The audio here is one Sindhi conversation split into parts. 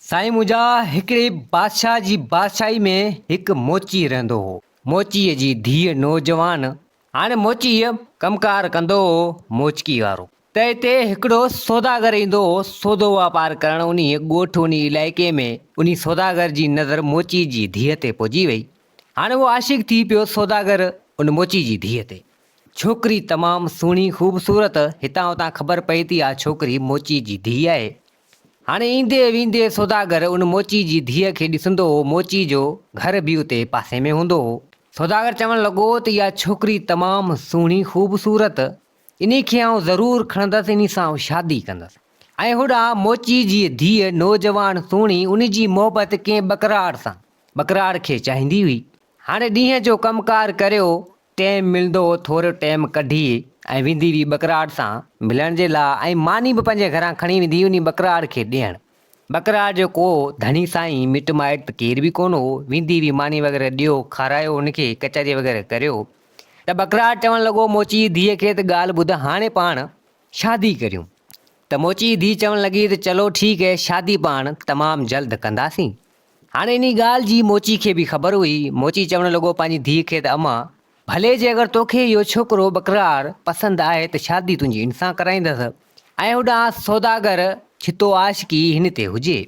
سائين منهنجا هڪڙي بادشاهه جي بادشاهي ۾ هڪ موچي رهندو هو. موچيء جي ڌيء نوجوان هاڻي موچيء ڪم ڪار ڪندو هو موچڪي وارو. ته هتي هڪڙو سوداگر ايندو هو سودو واپار ڪرڻ انهيء ڳوٺ انهيء علائقي ۾ انهي سوداگر جي نظر موچيء جي ڌيء تي پئجي وئي. هاڻي اهو عاشق ٿي پيو سوداگر ان موچي جي ڌيء تي. ڇوڪري تمام سهڻي خوبصورت هتان هتان خبر پئي ٿي آ ڇوڪري موچيء جي ڌيء آهي. هاڻي ايندي ويندي سوداگر ان موچي جي ڌيء کي ڏسندو هو، موچي جو گهر به اتي پاسي ۾ هوندو هو. سوداگر چوڻ لڳو ته اها ڇوڪري تمام سهڻي خوبصورت، انهي کي آئون ضرور کڻندس، انهي سان آئون شادي ڪندس. ۽ هوڏانهن موچي جي ڌيء نوجوان سهڻي، ان جي محبت ڪنهن ٻڪراڙ سان، ٻڪراڙ کي چاهيندي هئي. هاڻي ڏينهن جو ڪم ڪار ڪريو، ٽيم ملندو هو ٿورو ٽيم ڪڍي ۽ ويندي هئي ٻڪراڙ سان ملڻ جي لاء ۽ ماني به پنهنجي گهران کڻي ويندي هئي انهي ٻڪراڙ کي ڏيڻ. ٻڪراڙ جو ڪو ڌڻي سائين مٽ مائٽ ته ڪير به ڪونه هو، ويندي هئي ماني وغيره ڏيو، کارايو ان کي، ڪچهري وغيره ڪريو ته ٻڪراڙ چوڻ لڳو موچي جي ڌيء کي ته ڳالهه ٻڌ هاڻي پاڻ شادي ڪريون ته موچي جي ڌيء چوڻ لڳي ته چلو ٺيڪ هي شادي پاڻ تمام جلد ڪنداسين هاڻي انهي ڳالهه جي موچي کي به خبر هئي. موچي چوڻ لڳو پنهنجي ڌيء کي ته امان! ڀلي جي اگر توکي اهو ڇوڪرو ٻڪرار پسند آهي ته شادي تنهنجي هن سان ڪرائيندس. ۽ هوڏانهن سوداگر ڇتو عاشقي هن تي هجي.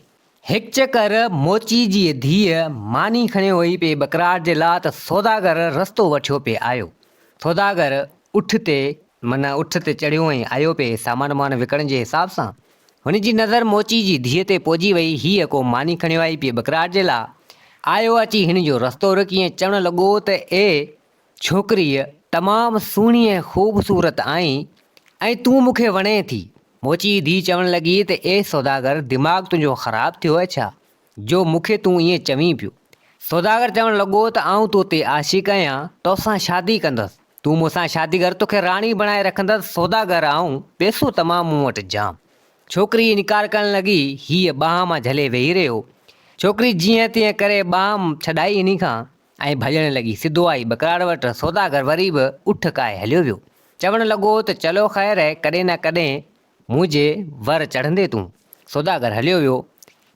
هڪ چڪر موچي جيء ڌيء ماني کڻي هئي پئي ٻڪرار جي لا ته سوداگر رستو وٺيو پئي آيو. سوداگر اٺ تي معنيٰ اٺ تي چڙهيو ۽ آيو پئي سامان وامان وڪڻڻ جي حساب سان. هن جي نظر موچي جي ڌيء تي پئجي وئي. هيء ڪو ماني کڻيو آئي پيء ٻڪراٽ جي لا. آيو اچي هن جو رستو رڪي ۽ چوڻ لڳو ته اي ڇوڪريء! تمام سهڻي ۽ خوبصورت آهين ۽ تون مون کي وڻين ٿي. موچي جي ڌيء چوڻ لڳي ته اي سوداگر! دماغ تنهنجو خراب ٿيو آهي ڇا جو مون کي تون ائين چوين پيو. سوداگر چوڻ لڳو ته آئون تو تي عاشق آهيان، تو سان شادي ڪندس. تون مون سان شادي ڪر توکي راڻي بڻائي رکندس سوداگر آئون پئسو تمام مون وٽ جام. ڇوڪري انڪار ڪرڻ لڳي هيء ٻانهن مان جهلي ويهي رهيو. ڇوڪري جيئن تيئن ڪري ٻانهن ڇڏائي هني کان ۽ ڀڄڻ لڳي سڌو آئي ٻڪراڙ وٽ سوداگر وري به اٺ ڪاهي هليو ويو چوڻ لڳو ته چلو خير اهي ڪڏهن نه ڪڏهن منهنجي ور چڙهندي تون سوداگر هليو ويو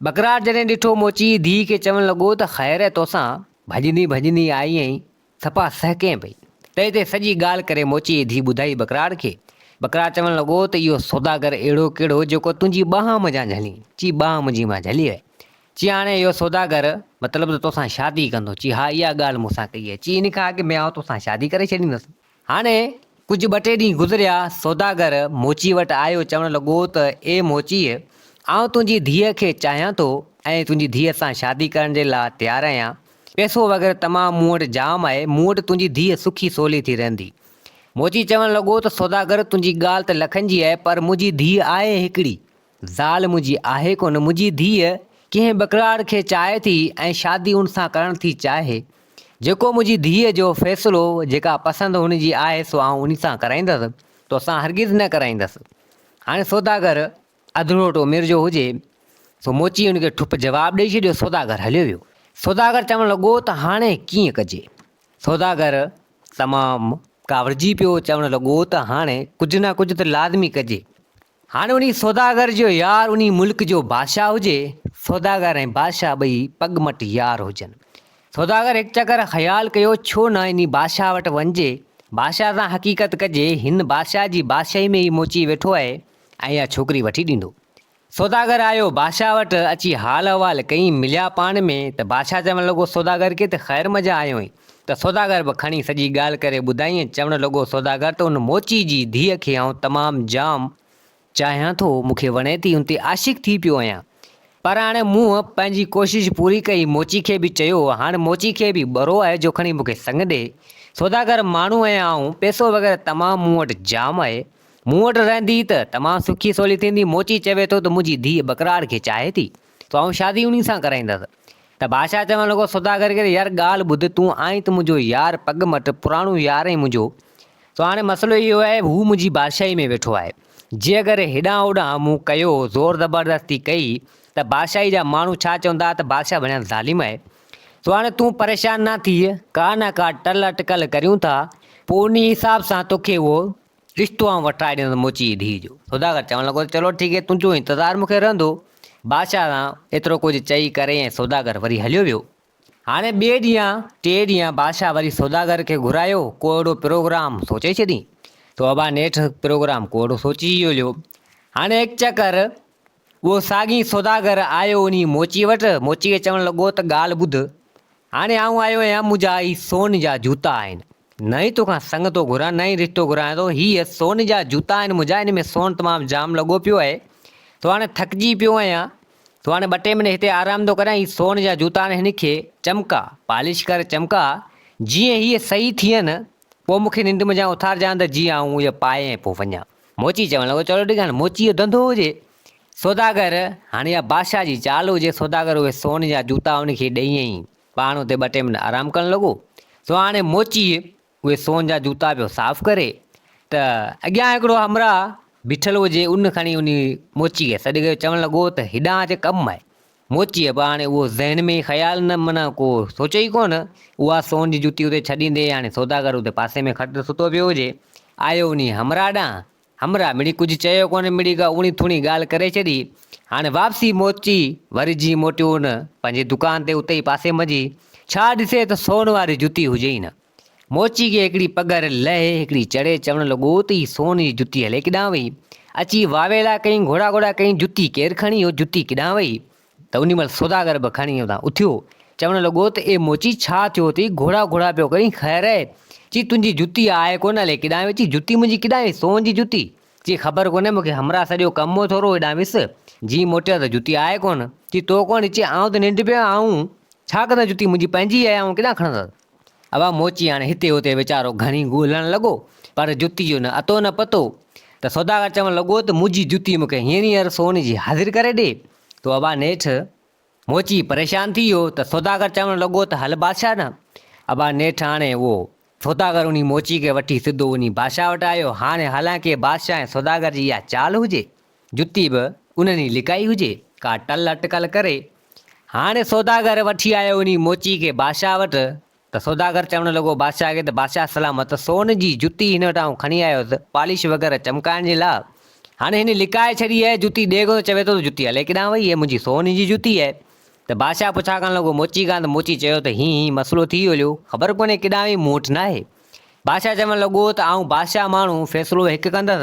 ٻڪراڙ جڏهن ڏٺو موچي ڌيء کي چوڻ لڳو ته خير اهي توسان ڀڄندي ڀڄندي آئي ۽ ٿڦا سهڪين پئي. تنهن تي سڄي ڳالهه ڪري موچي جي ڌيء ٻڌائي ٻڪراڙ کي. ٻڪراڙ چوڻ لڳو ته اهو سوداگر اهڙو ڪهڙو جيڪو تنهنجي ٻانهن منجهان جهلي؟ چي ٻانهن منهنجي مان جهلي وئي. چي هاڻي اهو سوداگر مطلب ته توسان شادي ڪندو؟ چي ها اها ڳالهه مون سان ڪئي آهي. چي ان کان اڳ ۾ آئون توسان شادي ڪري ڇڏيندس. هاڻي ڪجهه ٻه ٽي ڏينهن گذريا. سوداگر موچي وٽ آيو چوڻ لڳو ته اي موچيء آئون تنهنجي ڌيء کي چاهيان ٿو ۽ تنهنجي ڌيء سان شادي ڪرڻ جي لاء تيار آهيان. پئسو وغيره تمام مون وٽ جام آهي، مون وٽ تنهنجي ڌيء سکي سولي ٿي رهندي. موچي چوڻ لڳو ته سوداگر تنهنجي ڳالهه ته لکن جي آهي پر منهنجي ڌيء آهي هڪڙي، زال منهنجي آهي ڪونه، منهنجي ڌيء ڪنهن ٻڪراڙ کي چاهي ٿي ۽ شادي ان سان ڪرڻ ٿي چاهي، جيڪو منهنجي ڌيء جو فيصلو، جيڪا پسند هن جي آهي سو آئون ان سان ڪرائيندس، توسان هرگز نه ڪرائيندس. هاڻي سوداگر اڌروٽو مير جو هجي سو موچي ان کي ٺپ جواب ڏئي ڇڏيو سوداگر هليو ويو سوداگر چوڻ لڳو ته هاڻي ڪيئن ڪجي سوداگر تمام ڪاوڙجي پيو چوڻ لڳو ته هاڻي ڪجهه نه ڪجهه ته لازمي ڪجي هاڻي انهي سوداگر جو يار انهي ملڪ جو بادشاهه هجي سوداگر ۽ بادشاهه ٻئي پڳ مٽ يار هجن سوداگر هڪ چڪر خيال ڪيو ڇو نه انهي بادشاهه وٽ وڃجي بادشاهه سان حقيقت ڪجي هن بادشاهه جي بادشاهي ۾ ئي موچي ويٺو آهي ۽ اها ڇوڪري وٺي ڏيندو. سوداگر آيو بادشاهه وٽ، اچي حال احوال ڪيائين، مليا پاڻ ۾ ته بادشاهه چوڻ لڳو سوداگر کي ته خير مجا آيوئين، ته سوداگر به کڻي سڄي ڳالهه ڪري ٻڌائينس، چوڻ لڳو سوداگر ته ان موچي جي ڌيء کي آئون تمام جام، چاهيان ٿو، مون کي وڻي ٿي، ان تي عاشق ٿي پيو آهيان، پر هاڻي مون پنهنجي ڪوشش پوري ڪئي، موچي کي به چيو، هاڻ موچي کي به ٻرو آهي جو کڻي مون کي سڱ ڏي، سوداگر ماڻهو آهيان آئون، پئسو وغيره تمام مون وٽ جام آهي، مون وٽ رهندي ته تمام سکي سولي ٿيندي، موچي چوي ٿو ته منهنجي ڌيء ٻڪراڙ کي چاهي ٿي، سو آئون شادي انهي سان ڪرائيندس. ته بادشاهه چوڻ لڳو سوداگر کي ته يار ڳالهه ٻڌ، تون آهين ته منهنجو يار، پڳ مٽ، پراڻو يار آهين منهنجو، سو هاڻي مسئلو اهو آهي هو منهنجي بادشاهي ۾ ويٺو آهي، جي اگر هيڏانهن هوڏانهن مون ڪيو، زور زبردستي ڪئي، ته بادشاهي جا ماڻهو ڇا چوندا ته بادشاهه وڻيان ظالم آهي، سو هاڻي تون پريشان نه ٿيء، ڪا نه ڪا ٽل اٽڪل ڪريون ٿا، پوء انهي حساب سان توکي اهو رشتو آئون وٺرائي ڏيندس موچي جي ڌيء جو. سوداگر چوڻ لڳو ته چلو ٺيڪ هي، تنهنجو انتظار مون کي رهندو. بادشاهه سان ايترو ڪجهه چئي ڪري ۽ سوداگر وري هليو ويو. هاڻي ٻئي ڏينهن ٽئين ڏينهن بادشاهه وري سوداگر کي گهرايو، ڪو اهڙو پروگرام سوچي ڇڏين. سو ابا نيٺ پروگرام ڪو اهڙو سوچي ئي هليو. هاڻي هڪ چڪر اهو ساڳي سوداگر آيو انهي موچيء وٽ، موچيء کي چوڻ لڳو ته ڳالهه ٻڌ، هاڻي آئون آيو آهيان، منهنجا هي سون جا جوتا آهن، نه ئي توکان سڱ ٿو گهران، نه ئي رشتو گهران ٿو، هي سون جا جوتا آهن منهنجا، ان ۾ سون تمام جام لڳو پيو آهي، تون هاڻي ٿڪجي پيو آهيان، تون هاڻي ٻه ٽي منٽ هتي آرام ٿو ڪريان، هي سون جا جوتا آهن هن کي چمڪاء، پالش ڪر، چمڪاء، جيئن هي صحيح ٿين، پوء مون کي ننڊ منجهان اٿارجان ته جيئن آئون اهي پائي ۽ پوء وڃان. موچي چوڻ لڳو، چلو ٺيڪ آهي، هاڻي موچيء جو ڌنڌو هجي. سوداگر، هاڻي اها بادشاهه جي چال هجي. سوداگر اهي سون جا جوتا ان کي ڏيئي ۽ پاڻ اتي ٻه ٽي منٽ آرام ڪرڻ لڳو. سو هاڻي موچيء اهي سون جا جوتا پيو صاف ڪري ته اڳيان هڪڙو همراهه بيٺل هو، جي ان کڻي انهيء موچيء کي سڏ ڪيو، چوڻ لڳو ته هيڏانهن اچ ڪم آهي. موچيء به هاڻي اهو ذهن ۾ خيال نه معنيٰ ڪو سوچيو ئي ڪونه. اها سون جي جتي اتي ڇڏيندي هاڻي سوداگر اتي پاسي ۾ کٽ تي ستو پيو هجي، آيو انهيء همراهه ڏانهن. همراهه مڙئي ڪجهه چيو ڪونه، مڙئي ڪا اوڻي ٿوڻي ڳالهه ڪري ڇڏي. هاڻي واپسي موچي وري جيئن موٽيو ان پنهنجي دڪان تي اتي ئي پاسي منجهي ڇا ڏسي ته سون واري جتي هجي ئي نه. موچي کي هڪڙي پگهر لهي هڪڙي چڙهي چوڻ لڳو ته هي سون جي جتي هلي ڪيڏانهن وئي؟ اچي واويلا ڪيائين گهوڙا گهوڙا ڪيائين جتي ڪير کڻي اهو جتي ڪيڏانهن وئي؟ ته انهي مهل سوداگر به کڻي اتان اٿيو چوڻ لڳو ته اي موچي ڇا ٿيو اٿئي گهوڙا گهوڙا پيو ڪرين خير اهي؟ چي تنهنجي جتي آهي ڪونه الئي ڪيڏانهن وئي چي جتي منهنجي ڪيڏانهن وئي سون جي جتي چي خبر ڪونهي مون کي همراهه سڏيو ڪم هو ٿورو هيڏانهن ويس جئين موٽيو ته جتي آهي ڪونه چي تو ڪون چي آئون ته ننڊ پيو آهيان آئون ڇا ڪندس جتي منهنجي پنهنجي آهي آئون ڪيڏانهن کڻندس. عوام موچي هاڻي هتي هتي ويچارو گهڻي ڳولهڻ لڳو پر جتي جو نه اتو نه پتو ته سوداگر چوڻ لڳو ته منهنجي جتي مون کي هينئر هينئر سون جي حاضر ڪري ڏي تو ابا نيٺ موچي پريشان ٿي ويو ته سوداگر چوڻ لڳو ته هل بادشاهه ڏانهن ابا نيٺ هاڻي اهو سوداگر انهي موچي کي وٺي سڌو انهي بادشاهه وٽ آيو هاڻي حالانڪه بادشاهه ۽ سوداگر جي اها چال هجي جتي به انهن ئي لڪائي هجي، ڪا ٽل اٽڪل ڪري. هاڻي سوداگر وٺي آيو انهي موچي کي بادشاهه وٽ ته سوداگر چوڻ لڳو بادشاهه کي ته بادشاهه سلامت سون جي جتي هن وٽ آئون کڻي آيو هوس پالش وغيره چمڪائڻ جي لاء، هاڻي هن لڪائي ڇڏي آهي جتي ڏيکو ته چوي ٿو ته جتي الائي ڪيڏانهن وئي، هيء منهنجي سون جي جتي آهي. ته بادشاهه پڇا ڪرڻ لڳو موچي کان ته موچي چيو ته هين هين مسئلو ٿي ويو ليو خبر ڪونهي ڪيڏانهن وئي مون وٽ ناهي. بادشاهه چوڻ لڳو ته آئون بادشاهه ماڻهو فيصلو هڪ ڪندس.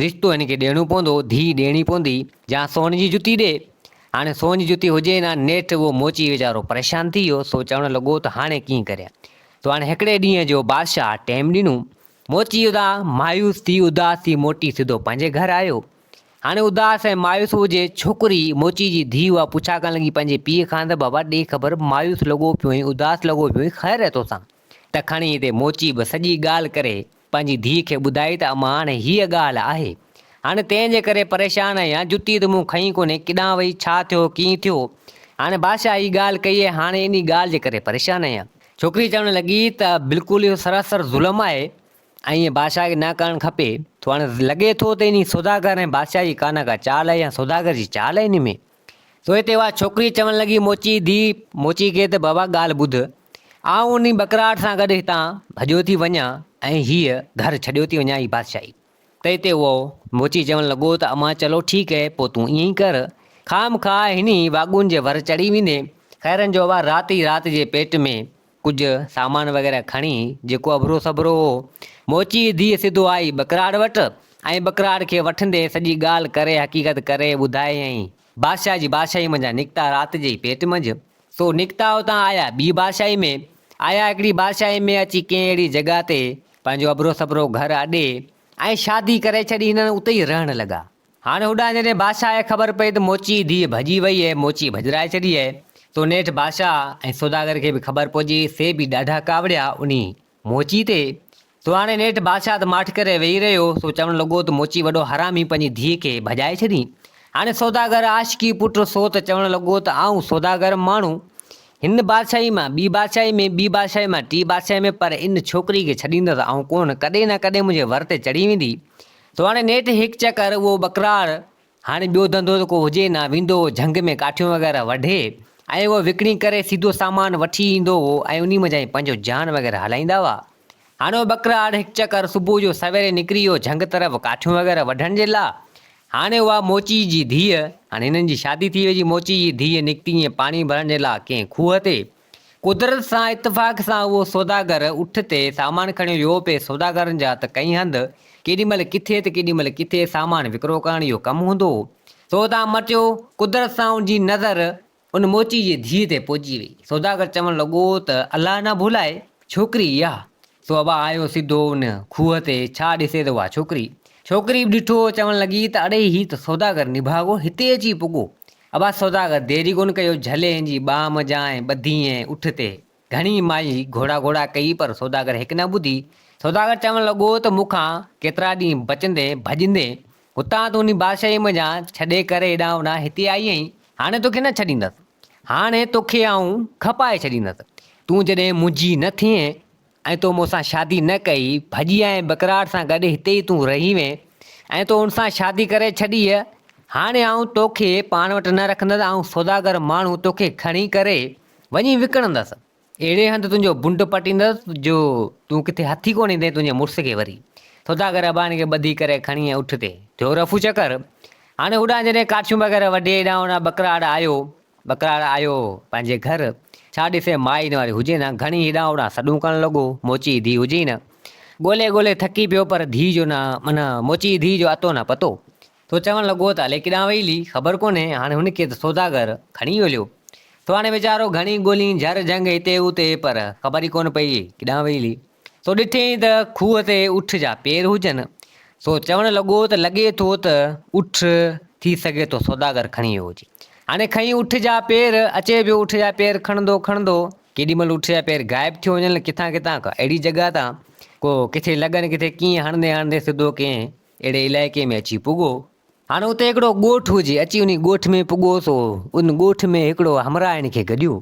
رشتو هن کي ڏيڻو پوندو، ڌيء ڏيڻي پوندي، جا سون جي جتي ڏي. هاڻي سون جي جتي هجي نه نيٺ اهو موچي ويچارو پريشان ٿي ويو، سو چوڻ لڳو ته هاڻي ڪيئن ڪريان؟ سو هاڻي هڪڙي ڏينهن جو بادشاهه ٽيم ڏنو. موچي ادا مايوس ٿي اداس ٿي موٽي سڌو پنهنجي گهر آيو. هاڻي اداس ۽ مايوس هو جي ڇوڪري موچي جي ڌيء هئا پڇا ڪرڻ لڳي پنهنجي پيء کان ته بابا ڏي خبر مايوس لڳو پيو هين اداس لڳو پيو هين خير هي توسان؟ ته کڻي هتي موچي به سڄي ڳالهه ڪري پنهنجي ڌيء کي ٻڌائي ته امان هاڻي هيء ڳالهه آهي. هاڻي تنهن جي ڪري پريشان آهيان. جتي ته مون کئي ڪونهي، ڪيڏانهن وئي، ڇا ٿيو، ڪيئن ٿيو. هاڻي بادشاهه هيء ڳالهه ڪئي آهي، هاڻي انهيء ڳالهه جي ڪري پريشان آهيان. ڇوڪري چوڻ لڳي ته بلڪل اهو سراسر ظلم آهي ۽ ائين بادشاهه کي نه ڪرڻ کپي ٿو. هاڻي لڳي ٿو ته انهيء سوداگر ۽ بادشاهه جي ڪا نه ڪا چال آهي يا سوداگر جي چال آهي انهيء ۾. سو هتي اها ڇوڪري چوڻ لڳي موچي ڌيء موچي کي ته بابا ڳالهه ٻڌ آئون انهي ٻڪراٽ سان گڏ هتان ڀڄيو ٿي وڃان ۽ هيء گهر ڇڏيو ٿي وڃان هي بادشاهي ته هتي اهو موچي چوڻ لڳو ته امان چلو ٺيڪ هي پوء تون ائين ئي ڪر خام خواهه هني واڳون جي ور چڙهي ويندين خيرن جو اها رات ئي رات جي پيٽ ۾ ڪجهه سامان وغيره کڻي جيڪو اڀرو سڀرو هو، موچيء جي ڌيء سڌو آئي ٻڪراڙ وٽ ۽ ٻڪراڙ کي وٺندي سڄي ڳالهه ڪري حقيقت ڪري ٻڌايائين. بادشاهه جي بادشاهيء منجهان نڪتا رات جي ئي پيٽ منجهه، سو نڪتا اتان آيا ٻيء بادشاهيء ۾، آيا هڪڙي بادشاهيء ۾ اچي ڪنهن اهڙي جڳهه تي پنهنجو اڀرو سڀرو گهر اڏي ۽ شادي ڪري ڇڏي هنن اتي ئي رهڻ لڳا. هاڻ هوڏانهن جڏهن بادشاهه کي خبر پئي ته موچي جي ڌيء ڀڄي وئي اهي، موچي ڀڄرائي ڇڏي اهي، تو نيٺ بادشاهه ۽ سوداگر کي به خبر پهجي، سي به ڏاڍا ڪاوڙيا انهي، موچي، تي، تو هاڻي نيٺ بادشاهه ته ماٺ ڪري ويهي رهيو، سو چوڻ لڳو ته موچي وڏو حرامي پنهنجي ڌيء کي ڀڄائي ڇڏين، هاڻي سوداگر عاشقي پٽ سو ته چوڻ لڳو ته آئون سوداگر ماڻهو، هن بادشاهي مان ٻي بادشاهي ۾ ٻي بادشاهي مان ٽي بادشاهي ۾ پر ان ڇوڪري کي ڇڏيندس آئون ڪونه، ڪڏهن نه ڪڏهن منهنجي ور تي چڙهي ويندي، تو هاڻي نيٺ هڪ چڪر اهو ٻڪراڙ، هاڻي ٻيو ڌنڌو ته ڪو هجي نه، ويندو هو جهنگ ۾ ڪاٺيون وغيره وڍي ۽ اهو وڪڻي ڪري سيڌو سامان وٺي ايندو هو ۽ انهي منجهان ئي پنهنجو جيان وغيره هلائيندا هئا. هاڻي اهو ٻڪراڙ هڪ چڪر صبح جو سويري نڪري ويو جهنگ طرف ڪاٺيون وغيره وڍڻ جي لا. هاڻي اها موچي جي ڌيء، هاڻي هنن جي شادي ٿي وئي جي موچي جي ڌيء نڪتي ائين پاڻي ڀرڻ جي لا ڪنهن کوهه تي. قدرت سان اتفاق سان اهو سوداگر اٺ تي سامان کڻي ويو پئي، سوداگرن جا ته ڪئين هنڌ، ڪيڏي مهل ڪٿي ته ڪيڏي مهل ڪٿي سامان وڪرو ڪرڻ اهو ڪم هوندو هو. سو تان مٽيو، قدرت سان ان جي نظر ان موچي جي ڌيء تي پئجي وئي. سوداگر چوڻ لڳو ته الله نه ڀولائي، ڇوڪري اها. سو ابا آيو سڌو ان کوهه تي، ڇا ڏسي ته اها ڇوڪري. ڇوڪري به ڏٺو، چوڻ لڳي ته اڙي هي ته سوداگر نڀاڳو هتي اچي پڳو، عباس سوداگر ديري ڪونه ڪيو، جهلي ان جي ٻانهه منجهان ۽ ٻڌي ۽ اٺ تي گهڻي مايي گهوڙا گهوڙا ڪئي پر سوداگر هڪ نه ٻڌي. سوداگر چوڻ لڳو ته مون کان ڪيترا ڏينهن بچندين ڀڄندين، هتان تون انهي بادشاهيء منجهان ڇڏي ڪري هيڏانهن هوڏانهن هتي آئي آهين، هاڻي توکي نه ڇڏيندس. هاڻي توکي آئون کپائي ڇڏيندس. تون جڏهن منهنجي نه ٿئين. ۽ تو مون سان شادي نه ڪئي، ڀڄي آئين بڪراٽ سان گڏ هتي ئي تون رهي وين ۽ تو ان سان شادي ڪري ڇڏي هي، هاڻي آئون توکي پاڻ وٽ نه رکندس، آئون سوداگر ماڻهو توکي کڻي ڪري وڃي وڪڻندس، اهڙي هنڌ تنهنجو بنڊ پٽيندس جو تون ڪٿي هٿ ئي ڪونه ايندين تنهنجي مڙس کي وري سوداگر اباڻي کي ٻڌي ڪري کڻي ۽ اٺ تي ٿيو رفو چڪر، هاڻي هوڏانهن جڏهن ڪاٺيون وغيره وڍي هيڏانهن هوڏانهن بڪراٽ آيو ٻڪراڙ آيو پنهنجي گهر، ڇا ڏسي مائي نواري هجي نه، گهڻي هيڏانهن هوڏانهن سڏون ڪرڻ لڳو، موچي جي ڌيء هجي ئي نه. ڳولي ڳولي ٿڪي پيو پر ڌيء جو نه، من موچي جي ڌيء جو اتو نه پتو. سو چوڻ لڳو ته الي ڪيڏانهن وئي الي، خبر ڪونهي، هاڻي هن کي ته سوداگر کڻي هليو. سو هاڻي ويچارو گهڻي ڳولين جهر جهنگ هتي هوتي پر خبر ئي ڪونه پئي ڪيڏانهن وئي الي. سو ڏٺيئين ته کوهه تي اٺ جا پير هجن. سو چوڻ لڳو ته لڳي ٿو ته اٺ ٿي سگهي ٿو سوداگر کڻي ويو هجي. هاڻي کنئين اٺ جا پير، اچي پيو اٺ جا پير کڻندو کڻندو. ڪيڏي مهل اٺ جا پير غائب ٿيو وڃن، ڪٿان ڪٿان ڪا اهڙي جڳهه تان ڪو ڪٿي لڳن ڪٿي ڪيئن هڻندي هڻندي سڌو ڪنهن اهڙي علائقي ۾ اچي پڳو، هاڻ اتي هڪڙو ڳوٺ هجي، اچي انهي ڳوٺ ۾ پڳو سو ان ڳوٺ ۾ هڪڙو همراهه هن کي گڏيو.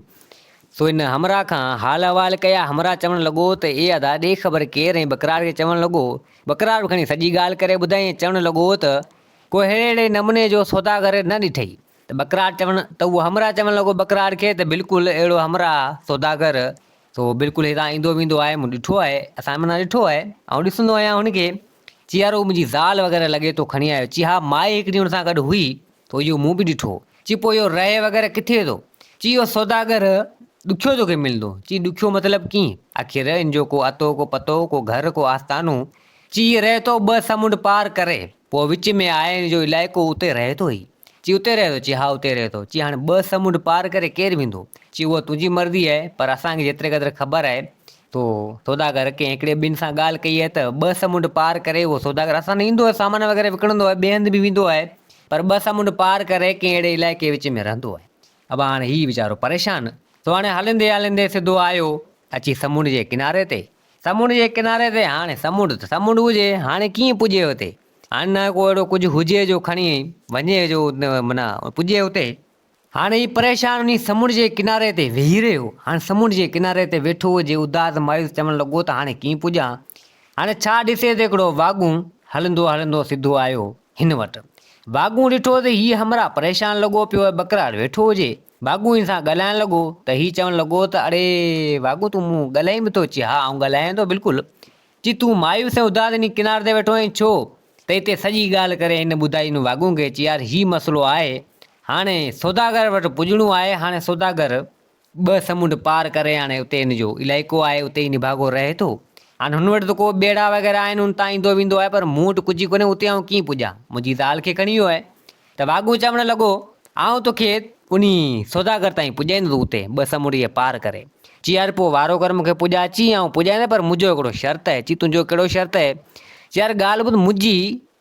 سو هن همراهه کان حال احوال ڪيا، همراهه چوڻ لڳو ته اي ادا ڏي خبر ڪير ۽ ٻڪرار کي چوڻ لڳو، ٻڪرار به کڻي سڄي ڳالهه ڪري ٻڌائين ۽ چوڻ لڳو ته، ڪو ههڙي نموني جو سوداگر نه ڏٺئي ته ٻڪرار چوڻ ته اهو همراهه چوڻ لڳو ٻڪرار کي ته بلڪل اهڙو همراهه، سوداگر، سو بلڪل هتان ايندو ويندو آهي، مون ڏٺو آهي، اسان معنيٰ ڏٺو آهي، آئون ڏسندو آهيان هن کي، چي يار هو منهنجي زال وغيره لڳي تو کڻي آيو. چي ها مائي هڪ ڏينهن هن سان گڏ هئي ته اهو مون به ڏٺو. چي پوء اهو رهي وغيره ڪٿي ٿو؟ چي اهو سوداگر ڏکيو توکي ملندو. چي ڏکيو مطلب ڪيئن؟ آخر ان جو ڪو اتو ڪو پتو، ڪو گهر ڪو آستانو. چي هي رهي ٿو ٻه سمنڊ پار ڪري. پوء وچ ۾ آهي هن جو علائقو اتي رهي ٿو هي. چي اتي رهي ٿو؟ چي ها اتي رهي ٿو. چي هاڻي ٻه سمنڊ پار ڪري ڪير ويندو؟ چي اها تنهنجي مرضي آهي پر اسان کي جيتري قدر خبر آهي تو سوداگر ڪنهن هڪڙي ٻن سان ڳالهه ڪئي آهي ته ٻه سمنڊ پار ڪري اهو سوداگر اسان ڏانهن ايندو آهي سامان وغيره وڪڻندو آهي ٻئي هنڌ به ويندو آهي پر ٻه سمنڊ پار ڪري ڪنهن اهڙي علائقي وچ ۾ رهندو آهي ابا هاڻي هي ويچارو پريشان سو هاڻي هلندي هلندي سڌو آيو اچي سمنڊ جي ڪناري تي سمنڊ جي ڪناري تي هاڻي سمنڊ ته سمنڊ هجي هاڻي ڪيئن پڄي اتي هاڻي نه ڪو اهڙو ڪجهه هجي جو کڻي وڃي جو معنيٰ پڄي اتي. هاڻي هي پريشان انهي سمنڊ جي ڪناري تي ويهي رهيو. هاڻي سمنڊ جي ڪناري تي ويٺو هجي، اداس مايوس چوڻ لڳو ته هاڻي ڪيئن پڄان؟ هاڻي ڇا ڏسي ته هڪڙو واڳون هلندو هلندو سڌو آيو هن وٽ. واڳون ڏٺو ته هي همراهه پريشان لڳو پيو آهي، ٻڪراڙ ويٺو هجي. واڳون هن سان ڳالهائڻ لڳو ته هي چوڻ لڳو ته اڙي واڳون تون مون ڳالهائين به ٿو چي ها آئون ڳالهايان ٿو بلڪل. جي تون مايوس ۽ اداس انهي ڪنار تي ويٺو آهين ڇو؟ ته اتي سڄي ڳالهه ڪري هن ٻڌائي ان واڳون کي چي يار هي مسئلو آهي هاڻي سوداگر وٽ پڄڻو آهي هاڻي سوداگر ٻه سمنڊ پار ڪري هاڻي اتي هن جو علائقو آهي اتي ئي نڀاڳو رهي ٿو هاڻي هن وٽ ته ڪو ٻيڙا وغيره آهن هن تان ايندو ويندو آهي پر مون وٽ ڪجهه ئي ڪونهي اتي آئون ڪيئن پڄان منهنجي زال کي کڻي ويو آهي ته واڳون چوڻ لڳو، آئون توکي انهي سوداگر تائين پڄائيندس اتي ٻه سمنڊ پار ڪري چيار پوء وارو ڪر مونکي پڄاء چي آئون پڄائيندس پر منهنجو هڪڙو شرط اهي چي تنهنجو ڪهڙو شرط اهي چيار ڳالهه ٻڌ منهنجي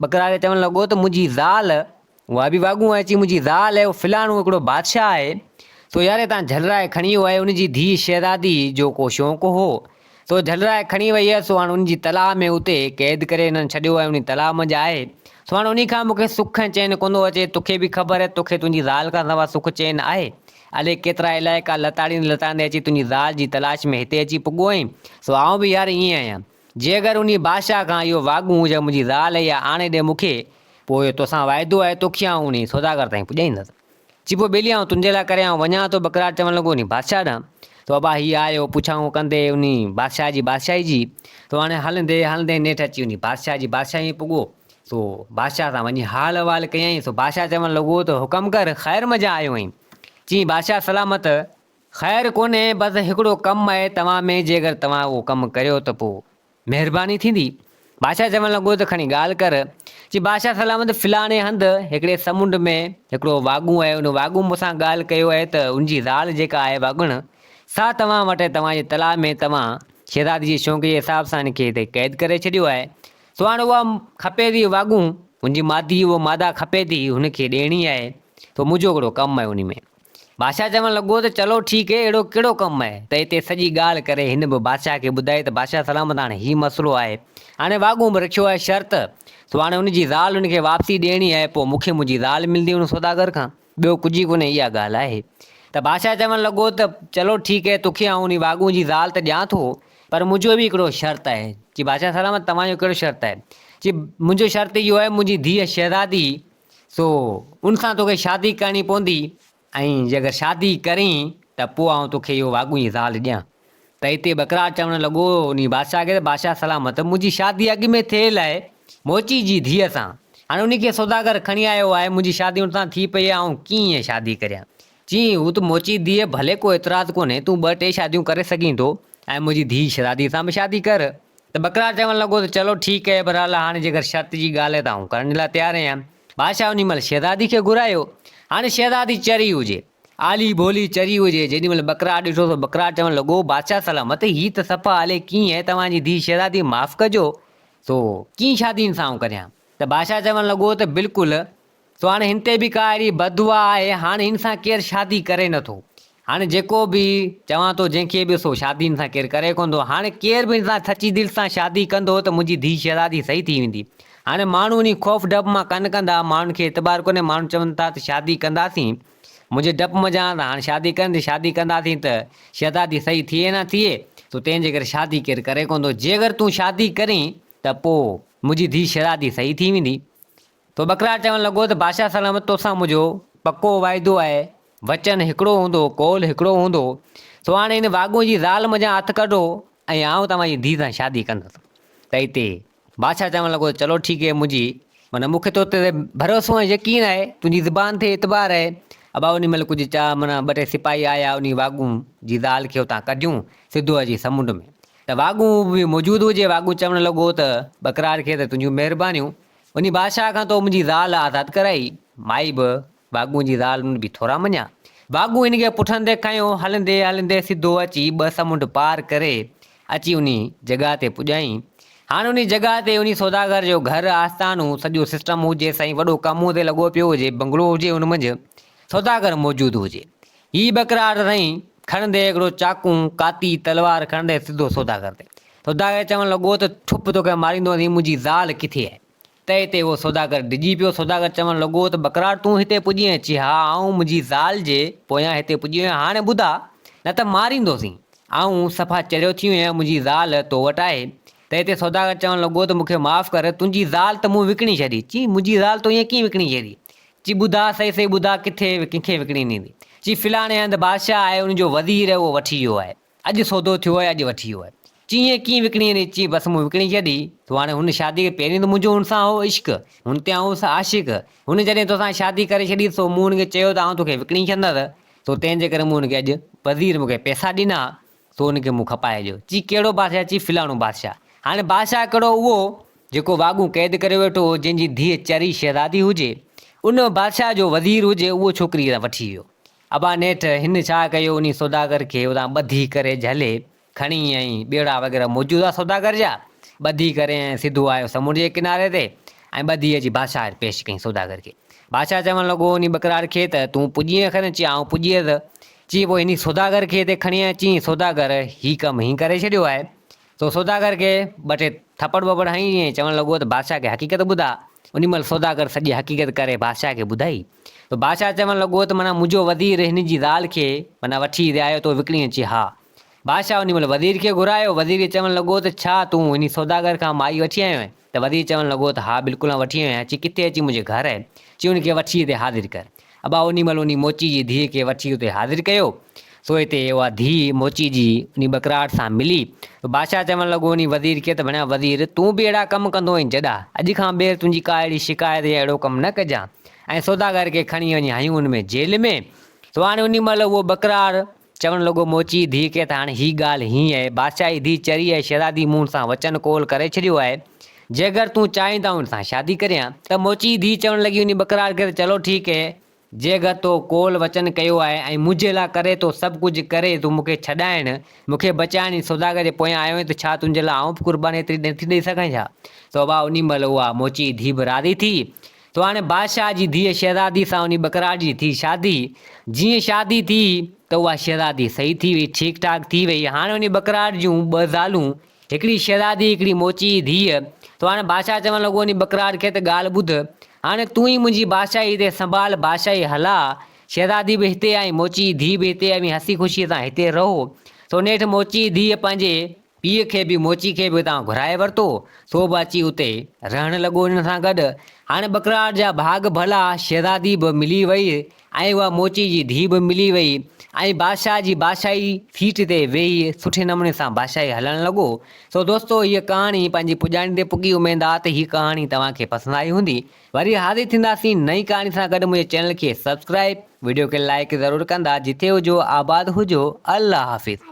ٻڪراري چوڻ لڳو ته منهنجي زال اها به واڳون اهي چي منهنجي زال اهي فلاڻو هڪڙو بادشاهه اهي سو ياري تان جهلرائي کڻي اهي انهي جي ڌي شهزادي جو ڪو شونق هو سو جهلرائي کڻي وئي هيس، سو هاڻ انهن جي تلاء ۾ اتي قيد ڪري هنن ڇڏيو آهي، انهي تلاء منجهه آهي، سو هاڻ انهي کان مون کي سک ۽ چين ڪو ٿو اچي، توکي به خبر آهي، توکي تنهنجي زال کان سوا سک چين آهي، الي ڪيترا علائقا لتاڙيندي لتاڙيندي اچي تنهنجي زال جي تلاش ۾ هتي اچي پڳو آهين، سو آئون به يار ائين آهيان، جي اگر انهي بادشاهه کان اهو واڳون هجي منهنجي زال اها آڻي ڏي مون کي، پوء توسان واعدو آهي، توکي آئون انهي سوداگر تائين پڄائيندس. چيڀو ٻيلي آئون تنھنجي لاء ڪري آئون وڃان ٿو ٻڪراڙ چوڻ لڳو انھي بادشاھه ڏانھن تو ابا ھي آيو پڇائون ڪندي انھي بادشاھه جي بادشاھي جي تو ھاڻي ھلندي ھلندي نيٺ اچي انھي بادشاھه جي بادشاھي ۾ پڳو سو بادشاھه سان وڃي حال احوال ڪيائين سو بادشاھه چوڻ لڳو ته حڪم ڪر خير مجان آيو آھين چيائين بادشاھه سلامت خير ڪونھي بس ھڪڙو ڪم آھي توھان ۾ جيڪر توھان اھو ڪم ڪريو ته پوء مهرباني ٿيندي. بادشاهه چوڻ لڳو ته کڻي ڳالهه ڪر. چي بادشاهه سلامت فلاڻي هنڌ هڪڙي سمنڊ ۾ هڪڙو واڳون آهي ان واڳون مون سان ڳالهه ڪيو آهي ته ان جي زال جيڪا آهي واڳڻ سا توهان وٽ آهي توهان جي تلاء ۾ توهان شهزادي جي شونق جي حساب سان هن کي هتي قيد ڪري ڇڏيو آهي سو هاڻ اها کپي ٿي واڳون ان جي مادي اهو ماده کپي ٿي هن کي ڏيڻي آهي سو منهنجو هڪڙو ڪم آهي انهي ۾ بادشاهه چوڻ لڳو ته چلو ٺيڪ هي اهڙو ڪهڙو ڪم آهي ته هتي سڄي ڳالهه ڪري هن به بادشاهه کي ٻڌائي ته بادشاهه سلامت هاڻي هي مسئلو آهي هاڻي واڳون به رکيو آهي شرط سو هاڻي هن جي زال هن کي واپسي ڏيڻي آهي پوء مون کي منهنجي زال ملندي هن سوداگر کان ٻيو ڪجهه ئي ڪونهي اها ڳالهه آهي ته بادشاهه چوڻ لڳو ته چلو ٺيڪ هي توکي آئون انهي واڳون جي زال ته ڏيان ٿو پر منهنجو به هڪڙو شرط آهي چي بادشاهه سلامت توهان جو ڪهڙو شرط آهي چي منهنجو شرط اهو آهي منهنجي ڌيء شهزادي سو ان سان توکي شادي ڪرڻي پوندي ۽ جي اگر شادي ڪرين ته پوء آئون توکي اهو واڳونهي زال ڏيان. ته اتي ٻڪرار چوڻ لڳو انهي بادشاهه کي ته بادشاهه سلامت منهنجي شادي اڳ ۾ ٿيل آهي موچي جي ڌيء سان. هاڻي انهي کي سوداگر کڻي آيو آهي منهنجي شادي ان سان ٿي پئي آهي آئون ڪيئن شادي ڪريان. چيائين هو ته موچي ڌيء ڀلي ڪو اعتراض ڪونهي تون ٻه ٽي شاديون ڪري سگهين ٿو. ۽ منهنجي ڌيء شھزاديء سان به شادي ڪر. ته بڪرار چوڻ لڳو ته چلو ٺيڪ اھي، بھرحال ھاڻي جيڪر شرط جي ڳالھھ اھي ته آئون ڪرڻ جي لاء تيار اھيان. بادشاھھ انھيء مھل شھزاديء کي گھرايو. ھاڻي شھزادي چري ھجي. آلي ڀولي چري ھجي. جيڏي مھل بڪرار ڏٺو سو بڪرار چوڻ لڳو، بادشاھھ سلامت، ھي ته صفا آلي ڪيئي اھي، توھان جي ڌيء شھزاديء معاف ڪجو، سو ڪيئي شادي ھن سان آئون ڪريان؟ ته بادشاھھ چوڻ لڳو ته بلڪل سو هاڻي هن تي به ڪا اهڙي بددعا آهي، هاڻ هن سان ڪير شادي ڪري نه ٿو. هاڻي جيڪو به چوان ٿو جنهن کي به سو شادي هن سان ڪير ڪري ڪونه ٿو. هاڻي ڪير به هن سان سچي دل سان شادي ڪندو ته منهنجي ڌيء شهزادي صحيح ٿي ويندي. هاڻي ماڻهو انهي خوف ڊپ مان ڪن ڪندا، ماڻهن کي اعتبار ڪونهي، ماڻهو چون ٿا ته شادي ڪنداسين منهنجي ڊپ منجهان ته هاڻ شادي ڪن جي شادي ڪنداسين ته شهزادي صحيح ٿئي نه ٿئي سو تنهن جي ڪري شادي ڪير ڪري ڪونه ٿو. جي اگر تون شادي ڪرين ته پوء منهنجي ڌيء شهزادي صحيح ٿي ويندي. تو ٻڪرار چوڻ لڳو ته بادشاهه سلامت توسان منهنجو پڪو واعدو آهي، وچن هڪڙو هوندو، قول هڪڙو هوندو، سو هاڻ هن واڳون جي زال منجهان هٿ ڪڍو ۽ آئون توهان جي ڌيء سان شادي ڪندس. تئي تي بادشاهه چوڻ لڳو ته چلو ٺيڪ هي منهنجي معنيٰ مون کي تو تي ڀروسو ۽ يقين آهي، تنهنجي زبان تي اعتبار آهي. ابا انهي مهل ڪجهه چا معنيٰ ٻه ٽي سپاهي آيا انهي واڳون جي زال کي اتان ڪڍيون سڌو اچي سمنڊ ۾ ته واڳون به موجود هجي. واڳون چوڻ لڳو ته ٻڪرار کي ته تنهنجون مهربانيون، انهي بادشاهه کان تو منهنجي زال آزاد ڪرائي. مائي به واڳون جي زال ان به ٿورا مڃيا. واڳون ان کي پٺن تي کنيو، هلندي هلندي سڌو اچي ٻه سمنڊ پار ڪري اچي انهي جڳهه تي پڄائين. هاڻ انهي جڳهه تي انهي سوداگر جو گهر، آستانو، سڄو سسٽم هجي سائين وڏو ڪم هتي لڳو پيو هجي، بنگلو هجي ان منجهه سوداگر موجود هجي. هي ٻڪراڙ رئين کڻندي هڪڙو چاقو، ڪاتي، تلوار کڻندي سڌو سوداگر تي. سوداگر چوڻ لڳو ته ٺپ توکي ماريندو هين منهنجي زال ڪٿي آهي؟ تئي تي اهو سوداگر ڊڄي پيو. سوداگر چوڻ لڳو ته ٻڪراڙ تون هتي پڄي آهين؟ چي ها آئون منهنجي زال جي پويان هتي پڄي آهيان هاڻي ٻڌاء نه ته ماريندوسين آئون صفا چريو ٿي ويو آهيان منهنجي زال تو وٽ آهي؟ تئي تي سوداگر چوڻ لڳو ته مونکي معاف ڪر تنهنجي زال ته مون وڪڻي ڇڏي. چي منهنجي زال تو ائين ڪيئن وڪڻي ڇڏي؟ چي ٻڌاء سهي سهي ٻڌاء ڪٿي ڪنکي وڪڻي ڏيندين؟ چي فلاڻي هنڌ بادشاهه آهي ان جو وزير اهو وٺي ويو آهي اڄ سودو ٿيو آهي اڄ وٺي ويو آهي چي ائين ڪيئن وڪڻي ڏيندين؟ چي بس مون وڪڻي ڇڏي تو هاڻي هن شادي کي پهرين ته منهنجو هن سان هو عشق هن تي آئون هوس عاشق هن جڏهن توسان شادي ڪري ڇڏي سو مون هن کي چيو ته آئون توکي وڪڻي ڇڏندس سو تنهن جي ڪري مون هن کي اڄ وزير مون کي پئسا ڏنا سو ان کي مون کپائي ڏيو. چي ڪهڙو بادشاهه؟ چي فلاڻو بادشاهه. هاڻي بادشاهه ڪهڙو؟ اهو جيڪو واڳون قيد ڪريو ويٺو هو، جنهن جي ڌيء چري شهزادي هجي، ان بادشاهه جو وزير هجي، اهو ڇوڪري اتان وٺي ويو. ابا نيٺ هن ڇا ڪيو، انهي سوداگر کي اتان ٻڌي ڪري جهلي کڻي ۽ ٻيڙا وغيره موجود هئا سوداگر جا، ٻڌي ڪري ۽ سڌو آيو سمنڊ جي ڪناري تي ۽ ٻڌي اچي بادشاهه وٽ پيش ڪيائين سوداگر کي. بادشاهه چوڻ لڳو انهي ٻڪراڙ کي ته تون پڄيئين کن؟ چي آئون پڄيس. چي پوء انهي سوداگر کي هتي کڻي آء چيئين سوداگر هي ڪم هين ڪري ڇڏيو آهي سو سوداگر کي ٻه ٽي ٿڦڙ ٻڦڙ هنئي ۽ چوڻ لڳو ته بادشاهه کي حقيقت ٻڌاء انهي مهل سوداگر سڄي حقيقت ڪري بادشاهه کي ٻڌائي ته بادشاهه چوڻ لڳو ته معنيٰ منهنجو وزير هن جي زال کي معنيٰ وٺي رهايو ٿو وڪڻي چي ها بادشاهه ان مهل وزير کي گهرايو. وزير کي چوڻ لڳو ته ڇا تون انهي سوداگر کان مائي وٺي آيو آهين؟ ته وزير چوڻ لڳو ته ها بلڪل آئون وٺي آيو آهيان. چي ڪٿي اچي منهنجي گهر آهي. چي ان کي وٺي هتي حاضر ڪر. ابا انهي مهل انهي موچي جي ڌيء کي وٺي اتي حاضر ڪيو. سو هتي اها ڌيء موچي جي انهي ٻڪراٽ سان ملي. سو بادشاهه چوڻ لڳو انهي وزير کي ته ڀڻيا وزير تون به اهڙا ڪم ڪندو آهين جڏا. اڄ کان ٻيهر تنهنجي ڪا اهڙي شڪايت يا اهڙو ڪم نه ڪجان. ۽ سوداگر کي کڻي وڃي هنيون ان ۾ جيل ۾. سو هاڻي انهي مهل اهو ٻڪراڙ چوڻ لڳو، موچيء ڌيء کي ته هاڻي هي ڳالهه هينئن اهي بادشاهي ڌيء چري ۽ شهزادي مون سان وچن قول ڪري ڇڏيو آهي، جيڪر تون چاهين ته آئون ان سان شادي ڪريان. ته موچيء ڌيء چوڻ لڳي انهيء ٻڪراڙ کي ته چلو ٺيڪ اهي، جيڪر تو قول وچن ڪيو آهي ۽ منهنجي لاء ڪري ٿو سڀ ڪجهه ڪري تون مون کي ڇڏائڻ، مون کي بچائڻ جي سوداگر جي پويان آيو آهين ته ڇا تنهنجي لاء آئون به قرباني ايتري نٿي ڏئي سگهان ڇا؟ سو واهه انهيء مهل اها موچيء ڌيء به راضي ٿي. تو هاڻي بادشاهه جي ڌيء شهزادي سان انهي ٻڪراڙ جي ٿي شادي. جيئن شادي ٿي ته اها شهزادي صحيح ٿي وئي، ٺيڪ ٺاڪ ٿي وئي. هاڻي انهي ٻڪراڙ جون ٻه زالون، هڪڙي شهزادي هڪڙي موچي جي ڌيء. تو هاڻي بادشاهه چوڻ لڳو انهي ٻڪراڙ کي ته ڳالهه ٻڌ، هاڻي تون ئي منهنجي بادشاهي تي سنڀال، بادشاهي هلاء. شهزادي به هتي ۽ موچي جي ڌيء به هتي اوهين هسي خوشيء سان هتي رهو. سو نيٺ موچي جي ڌيء پنهنجي پيء کي به موچي کي به اتان گهرائي ورتو، سو به اچي اتي رهڻ لڳو انهن سان گڏ. هاڻي ٻڪراڙ جا ڀاڳ ڀلا، شهزادي به ملي وئي ۽ اها موچي جي ڌيء به ملي وئي ۽ بادشاهه جي بادشاهي سيٽ تي ويهي سٺي نموني سان بادشاهي هلڻ لڳو. سو دوستو هيء ڪهاڻي پنهنجي پڄاڻي تي پڳي اميد آ ته هي ڪهاڻي توهان کي پسند آئي هوندي. وري حاضر ٿينداسين نئين ڪهاڻي سان گڏ منهنجي چينل کي سبسڪرائيب وڊيو کي لائيڪ ضرور ڪندا جتي هجو آباد هجو الله حافظ.